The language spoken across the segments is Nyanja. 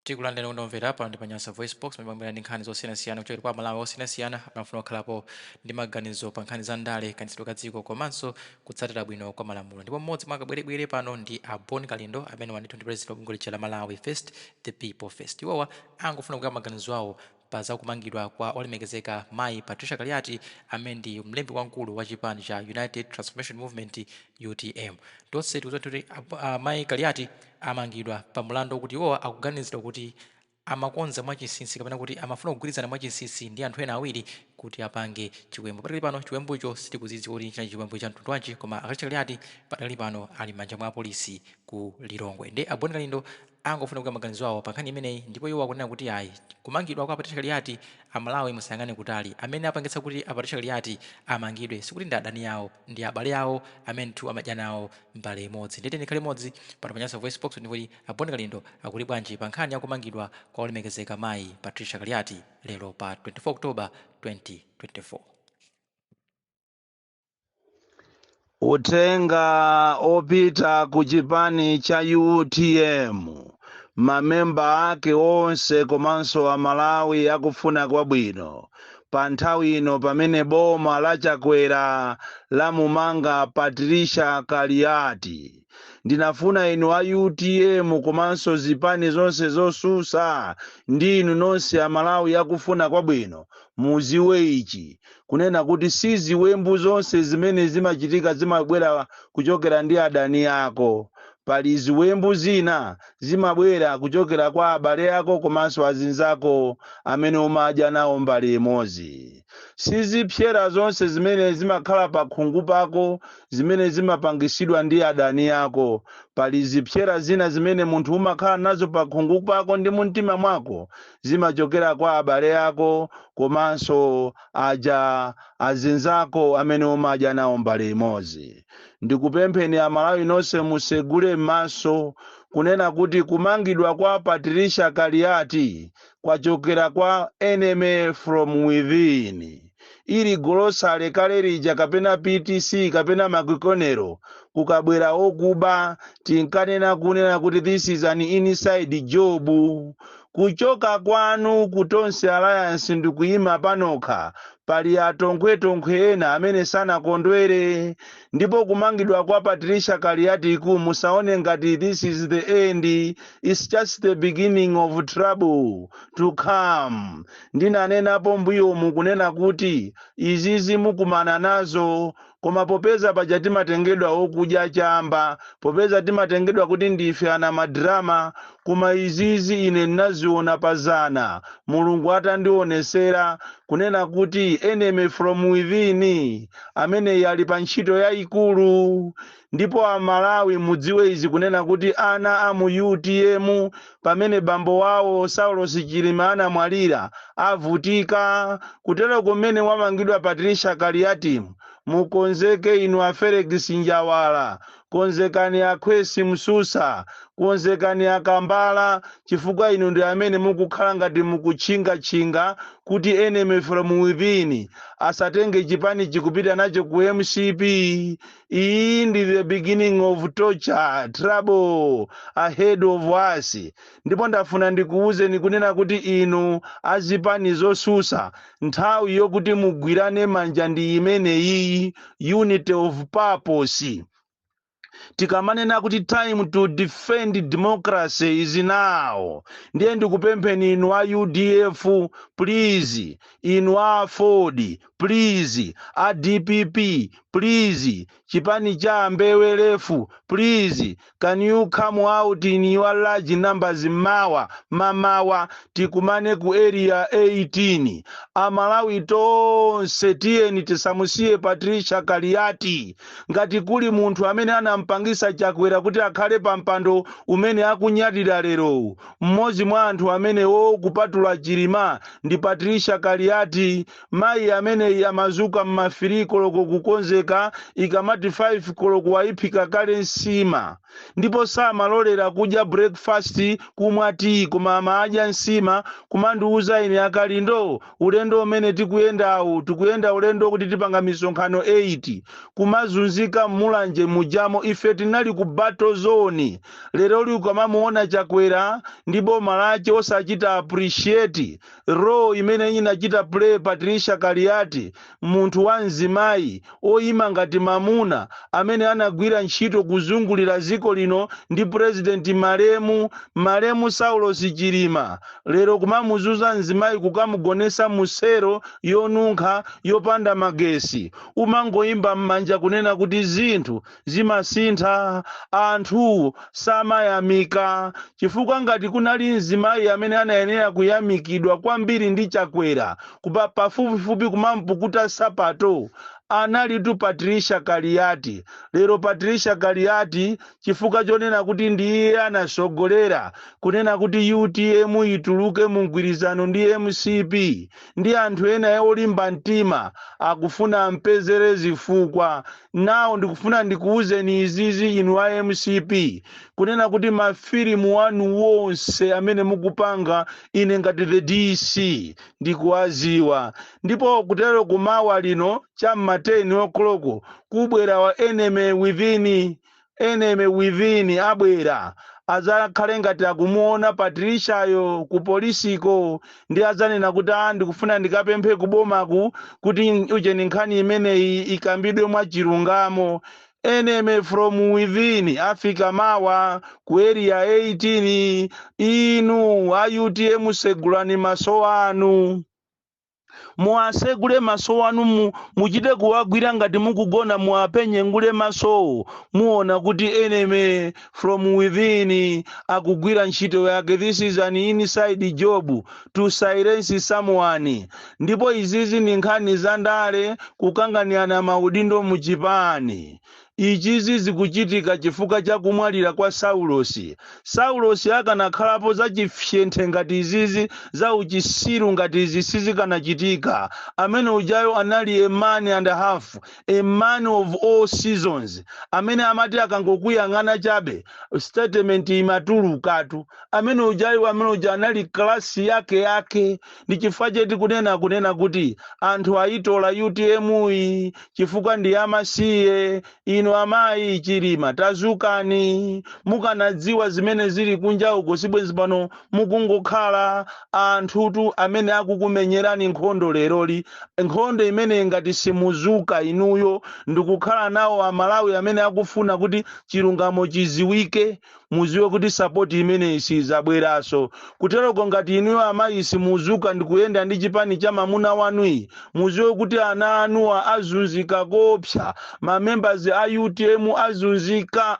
Tikulandirani okondedwa omvera pano ndi pa Nyasa VoiceBox pamene timabwera ndi nkhani zosiyanasiyana kuchokera kwa Amalawi osiyanasiyana amene amafuna kuyikapo ndi maganizo pa nkhani za ndale, kayendetsedwe ka dziko komanso kutsatira bwino kwa malamulo. Ndipo mmodzi mwa akabwerebwere pano ndi a Bon Kalindo amenewa ndithu ndi pulezidenti wa bungwe lija la Malawi First, The People First. Iwowa angofuna kugawa maganizo awo pa za kumangidwa kwa olemekezeka mayi Patricia Kaliati amene ndi mlembi wamkulu wa chipani cha United Transformation Movement, utm. Tonse tikudziwa ndithu kuti a a mayi Kaliati amangidwa pa mulandu okuti iwowa akuganizidwa kuti amakonza mwa chinsinsi kapena kuti amafuna kugwirizana mwa chinsinsi ndi anthu ena awiri kuti apange chiwembu. Padakali pano chiwembucho sitikudziwa kuti chinali chiwembu cha mtundu wanji koma a Patricia Kaliati padakali pano ali m'manja mwa apolisi ku Lilongwe. Ndiye a Bon Kalindo angofuna kugawa maganizo awo pa nkhani imeneyi ndipo iwo akunena kuti ayi kumangidwa kwa Patricia Kaliati a Malawi musayang'ane kutali amene apangitsa kuti a Patricia Kaliati amangidwe sikuti ndi adani awo ndi abale awo amene ndithu amadya nawo mbale imodzi ndiye tiyeni tikhale limodzi pano pa Nyasa Voicebox ndikumva kuti a Bon Kalindo akuti bwanji pa nkhani ya kumangidwa kwa olemekezeka mayi Patricia Kaliati lero pa 24 October 2024. Uthenga wopita ku chipani cha utm mamemba ake onse komanso amalawi akufuna kwabwino pa nthawi ino pamene boma la chakwera lamumanga patricia kaliati ndinafuna inu a utm komanso zipani zonse zosusa ndi inu nonse amalawi akufuna kwabwino muziwe ichi kunena kuti si ziwembu zonse zimene zimachitika zimabwera kuchokera ndi adani ako pali ziwembu zina zimabwera kuchokera kwa abale ako komanso azinzako amene umadya nawo mbale imodzi si zipsera zonse zimene zimakhala pa khungu pako zimene zimapangisidwa ndi adani ako pali zipsera zina zimene munthu umakhala nazo pa khungu pako ndi mumtima mwako zimachokera kwa abale ako komanso aja azinzako amene umadya nawo mbale imodzi ndikupempheni amalawi nonse musegule m'maso kunena kuti kumangidwa kwa patricia kaliati kwachokera kwa enemy from within ili golosale kale lija, kapena ptc kapena makikonero kukabwera okuba tinkanena kunena kuti this is an inside job kuchoka kwanu ku tonse alliance ndikuyima panokha pali atonkhwetonkhwe ena amene sanakondwere Ndipo kumangidwa kwa Patricia Kaliati ku musaone ngati this is the end it's just the beginning of trouble to come. Ndinanenapo mbuyomu kunena kuti izizi mukumana nazo koma popeza paja timatengedwa okudya chamba popeza timatengedwa kuti ndife ana madrama koma izizi ine ndinaziona pa zana mulungu atandionesera kunena kuti enemy from within ameneyi ali pa ntchito yayikulu ndipo amalawi mudziwe izi kunena kuti ana a mu utm pamene bambo wawo saulos chilima anamwalira avutika kutero kumene wamangidwa patricia kaliati mukonzeke inu a felix njawala Konzekani a Kwesi Msusa, konzekani a Kambala chifukwa inu ndi amene mukukhala ngati mukutchingatchinga kuti enemy from within asatenge chipanichi kupita nacho ku mcp. Iyi ndi the beginning of torture, trouble ahead of us. ndipo ndafuna ndikuwuzeni kunena kuti inu azipani zosusa nthawi yokuti mugwirane manja ndi imeneyiyi unity of purpose tikamanena kuti time to defend democracy is now ndiye ndikupempheni inu a udf please inu a aford please a dpp please Chipani cha ambewe lefu please can you come out in your large numbers mmawa mamawa tikumane ku area 18 amalawi tonse tiyeni tisamusiye patricia kaliati ngati kuli munthu amene anampangisa chakwera kuti akhale pa mpando umene akunyadira lerowu mmodzi mwa anthu amenewo kupatula chilima ndi patricia kaliati mayi ameneyi amazuka mma 3 koloko kukonzeka ikamati 5 koloko wayiphika kale nsima ndipo samalolera kudya breakfast kumwa tiyi koma amadya nsima kumandiuza ine akalindo ulendo umene tikuyendawu tikuyenda ulendo kuti tipanga misonkhano 8 kumazunzika mmulanje mujamo ife tinali ku battle zone lero ili ukamamuona chakwera ndi boma lache osachita appreciate role imene anachita play patricia kaliati munthu wa mzimayi oyima ngati mamuna amene anagwira ntchito kuzungulira dziko lino ndi purezidenti malemu malemu saulos chilima lero kumamuzuza mzimayi kukamugonesa musero yonunkha yopanda magesi kumangoyimba m'manja kunena kuti zinthu zimasintha. Anthu samayamika chifukwa ngati kunali mzimayi amene anayenera kuyamikidwa kwambiri ndi Chakwera pafupifupi kumampukuta sapato analitu Patricia Kaliati. Lero Patricia Kaliati chifukwa chonena kuti ndi iye anasogolera kunena kuti utm ituluke mu mgwirizano ndi mcp ndi anthu ena olimba mtima akufuna ampezere zifukwa. Now ndikufuna ndikuuzeni izizi inu a mcp kunena kuti mafilimu wanu wonse amene mukupanga ine ngati the DC ndikuwaziwa ndipo kutero kumawa lino cha m'ma 10 o'clock kubwera wa enemy within enemy within abwera adzakhale ngati akumuona Patriciayo ku polisiko ndi adzanena kuti a ndikufuna ndikapemphe kubomaku kuti ujeni nkhani imeneyi ikambidwe mwa chilungamo enemy from within afika mawa ku area 18 inu a utm segulani maso anu Muwasegule maso wanu, muchite kuwagwira ngati mukugona muwaphenyengule masowo muona kuti enemy from within akugwira ntchito yake this is an inside job to silence someone ndipo izizi ndi nkhani za ndale kukanganirana maudindo mu chipani Izizi zikuchitika chifukwa cha kumwalira kwa Saulosi. Saulosi akanakhalapo za chifyenthe ngati izizi za uchisiru ngati izi sizikanachitika. Amene ujayo anali a man and a half, a man of all seasons. Amene amati akangokuyang'ana chabe, statement imatulukatu. Amene ujayu amene uja anali class yake yake. ndi chifukwa chake tikunena kunena kuti anthu ayitola utm yi chifukwa ndi yamasiye inu amayi chilima tazukani mukanadziwa zimene zili kunja uko sibwenzi pano mukungokhala anthutu amene akukumenyerani nkhondo leroli nkhondo imene ngati simuzuka inuyo ndikukhala nawo amalawi amene akufuna kuti chilungamo chiziwike muziwe kuti sapoti imeneyi sizabweraso kuteroko ngati inuyo amayi simuzuka ndikuyenda ndi chipani cha mamuna wanuyi muziwe kuti ana anuwa azunzika koopsa mamembers a utm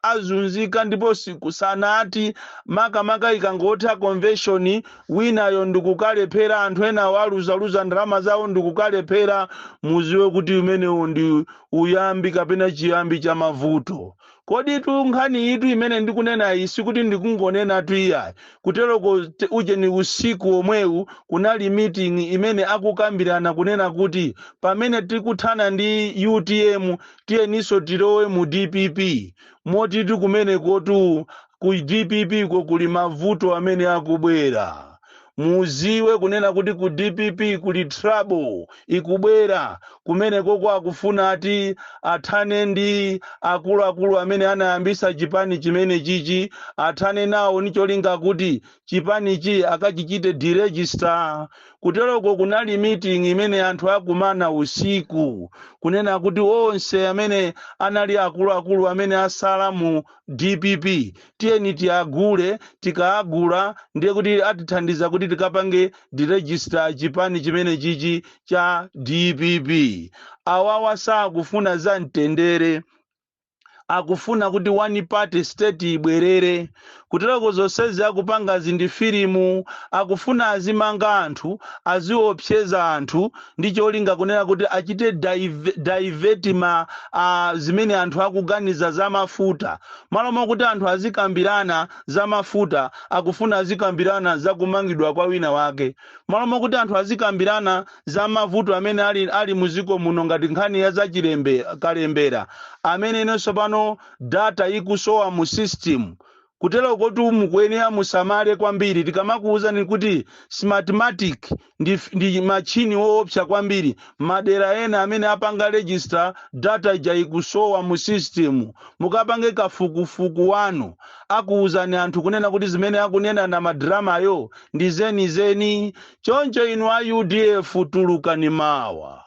azazunzika ndipo sikusanati makamaka ikangotha convention winayo ndikukalephera anthu enawo aluzaluza ndalama zawo ndikukalephera muziwe kuti umenewo ndi uyambi kapena chiyambi cha mavuto Koditu nkhaniyitu imene ndikunenayi sikuti ndikungonenatu iyayi, kuteroko ujeni usiku womwewu kunali meeting imene akukambirana kunena kuti pamene tikuthana ndi utm tiyeninso tilowe mu dpp motitu kumenekotu ku dpp ko kuli mavuto amene akubwera. muziwe kunena kuti ku dpp kuli trouble ikubwera kumene koko akufuna ati athane ndi akuluakulu amene anayambisa chipani chimene chichi athane nawo nicholinga kuti chipanichi akachichite deregister kuteroko kunali meeting imene anthu akumana usiku kunena kuti onse amene anali akuluakulu amene asala mu dpp tiyeni tiagule, tikaagula ndiye kuti atithandiza kuti tikapange deregister chipani chimenechichi cha dpp. Awawa sakufuna za mtendere, akufuna kuti one party state ibwerere. Kuteroko zonsezi akupangazi ndi filimu, akufuna azimanga anthu, aziopseza anthu ndi cholinga kunena kuti achite dive- divert ma ah, zimene anthu akuganiza za mafuta Malo mokuti anthu azikambirana za mafuta, akufuna azikambirana za kumangidwa kwa wina wake. Malo mokuti anthu azikambirana za mavuto amene ali, ali mu dziko muno ngati nkhani ya za chilemb-, kalembera, amene ino tsopano data ikusowa mu system. Kuterokotu mukuyenera musamale kwambiri tikamakuwuzani kuti Smartmatic ndi, f- ndi matchini woopsa kwambiri madera ena amene apanga register data ija ikusowa mu system mukapange kafukufuku wanu akuwuzani anthu kunena kuti zimene akunena Namadramayo ndi zenizeni choncho inu a udf tulukani mawa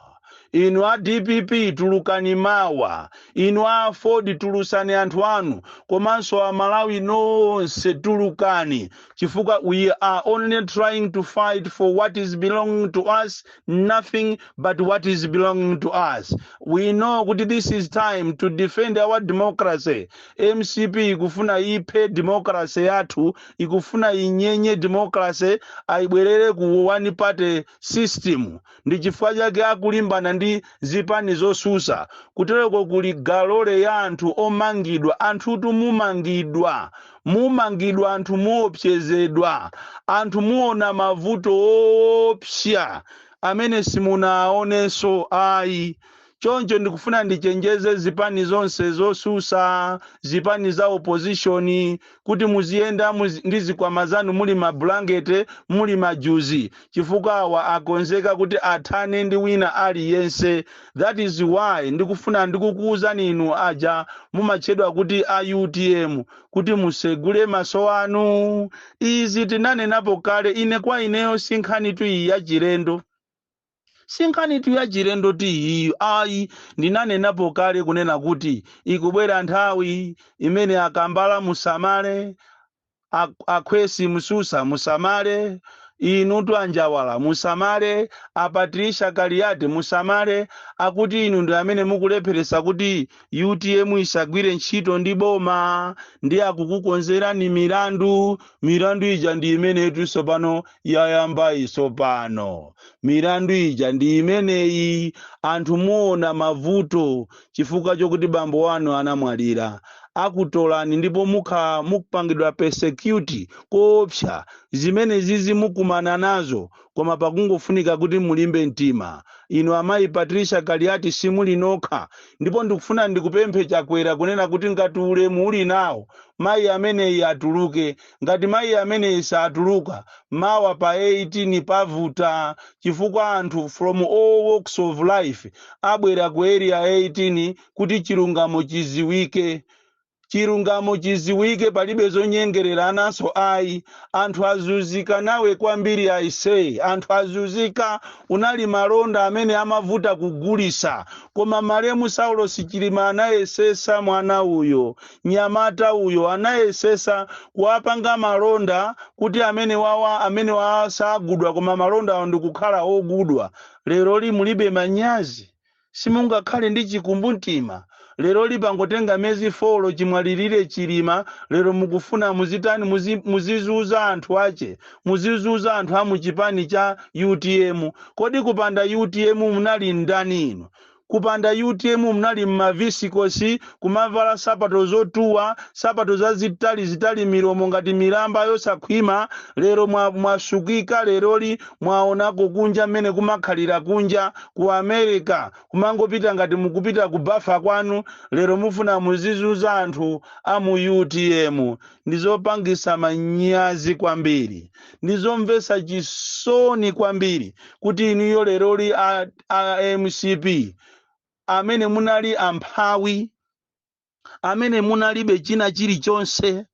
inu a dpp tulukani mawa, inu a aford tulusani anthu anu, komanso amalawi nonse tulukani chifukwa we are only trying to fight for what is belonging to us nothing but what is belonging to us we know kuti this is time to defend our democracy mcp ikufuna iphe democracy yathu ikufuna inyenye democracy ayibwerere ku one party system ndi chifukwa chake akulimbana ndi zipani zosusa kutereko kuli galore ya anthu omangidwa anthutu mumangidwa mumangidwa anthu muopsezedwa anthu muona mavuto oopsa amene simunaonenso ayi choncho ndikufuna ndichenjeze zipani zonse zosusa zipani za opposition kuti muziyenda ndi zikwama zanu muli mabulankete muli majuzi chifukwa awa akonzeka kuti athane ndi wina aliyense that is why ndikufuna ndikukuwuzani inu aja mumatchedwa kuti a utm kuti musegule maso anu izi tinanenapo kale ine kwa ineyo sinkhanitu iyi yachilendo Sinkhanitu yachilendo iyi ayi ndinanenapo kale kunena kuti ikubwera nthawi imene a Kambala musamale, a a Khwesi Msusa musamale, inutu a Njawala musamale, a Patricia Kaliati musamale akuti inu ndi amene mukulepheresa kuti utm isagwire ntchito ndi boma ndiye akukukonzerani milandu milandu ija ndi imeneyitu tsopano yayambayi tsopano milandu ija ndi imeneyi anthu muona mavuto chifukwa chokuti bambo wanu anamwalira akutolani ndipo mukhala mukupangidwa persecute koopsa zimene zizi mukumana nazo koma pakungofunika kuti mulimbe mtima. Inu amayi Patricia Kaliati simuli nokha ndipo ndikufuna ndikupemphe Chakwera kunena kuti ngati ulemu uli nawo mayi ameneyi atuluke. Ngati mayi ameneyi satuluka, mawa pa 18 pavuta chifukwa anthu from all walks of life abwera ku Area 18 kuti chilungamo chiziwike. chilungamo chiziwike palibe zonyengerera ananso ayi anthu azuzika nawe kwambiri aise anthu azuzika unali malonda amene amavuta kugulisa koma malemu saulos chilima anayesesa mwana uyo nyamata uyo anayesesa kuwapanga malonda kuti amene wawa amene wawa sagulidwa koma malonda awo ndikukhala ogulidwa leroli mulibe manyazi simungakhale ndi chikumbumtima leroli pangotenga mezi folo chimwalirire chilima lero mukufuna muzitani muzi, muzizuza anthu ache muzizuza anthu amuchipani cha utm kodi kupanda utm munali ndani inu kupanda utm munali mmavisikosi kumavala sapato zotuwa sapato zazitali zitali milomo ngati milamba yosakhwima lero mwa- mwasukika leroli mwaonako kunja mmene kumakhalira kunja ku america kumangopita ngati mukupita ku bafa kwanu lero mufuna muzizuza anthu a mu utm ndizopangisa manyazi kwambiri ndizomvesa chisoni kwambiri kuti inuyo leroli a, a mcp amene munali amphawi amene munalibe china chilichonse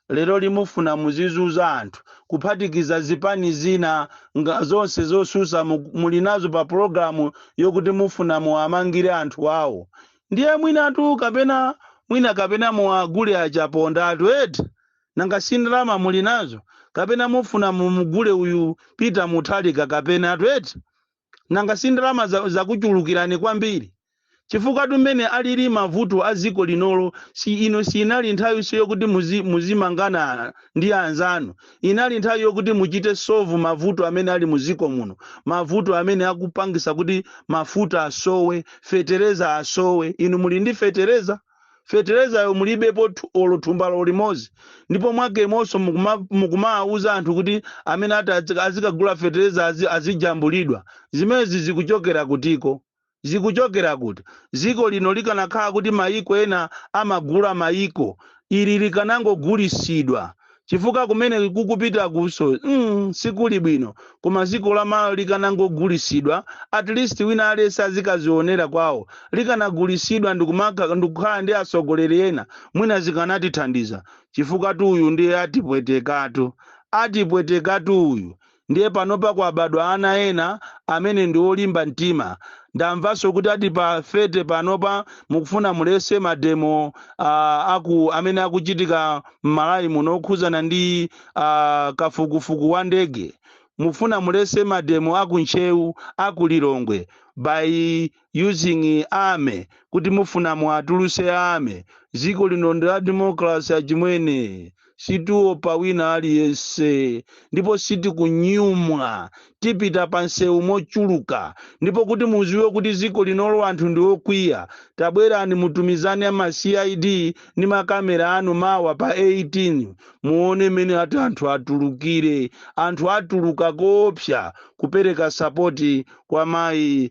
lero ndi mufuna muzizuza anthu kuphatikiza zipani zina nga zonse zosusa mu- muli nazo pa pulogalamu yokuti mufuna muwamangire anthu awo ndiye mwinatu kapena mwina kapena muwagule a Chaponda 'tu eti nanga si ndalama muli nazo kapena mufuna mumugule uyu peter muthalika kapena 'tu eti nanga si ndalama za- zakuchulukirani kwambiri chifukwa tu mmene alili mavuto a dziko linolo si ino siinali nthawi so yokuti muzi- muzimangana ndi anzanu inali nthawi yokuti muchite sovu mavuto amene ali mu dziko muno mavuto amene akupangisa kuti mafuta asowe fetereza asowe inu muli ndi fetereza fetelezayo mulibepo thu- olo thumbalo limodzi ndipo mwakenso mukuma- mukumawawuza anthu kuti amene ati azika- azikagula feteleza azi- azijambulidwa zimenezi zikuchokera kutiko zikuchokera kuti dziko lino likanakhala kuti mayiko ena amagula mayiko ili likanangogulisidwa chifukwa kumene tikupitakunso mm, sikuli bwino koma dziko la Malawi likanangogulisidwa at least wina aliyense azikazionera kwawo likanagulisidwa ndikumaka- ndikukhala ndi atsogoleri ena mwina zikanatithandiza chifukwa tu uyu ndiye atipwetekatu atipwetekatu uyu Ndiye panopa kwabadwa ana ena amene ndi olimba mtima. Ndamvanso kuti ati pa 30 panopa mukufuna mulese mademo uh, aku amene akuchitika m'Malawi muno okhudzana ndi uh, kafukufuku wa ndege. Mufuna mulese mademo aku Ntcheu, aku Lilongwe by using army kuti mufuna muatuluse army ziko lino ndi la democracy achimwene situopa wina aliyense ndipo sitikunyumwa tipita pa nsewu mochuluka ndipo kuti muziwe kuti ziko linolo anthu ndi okwiya tabwerani mutumize ni ama cid ndi makamera anu mawa pa 18 muone mmene ati anthu atulukire anthu atuluka koopsa kupereka sapoti kwa mayi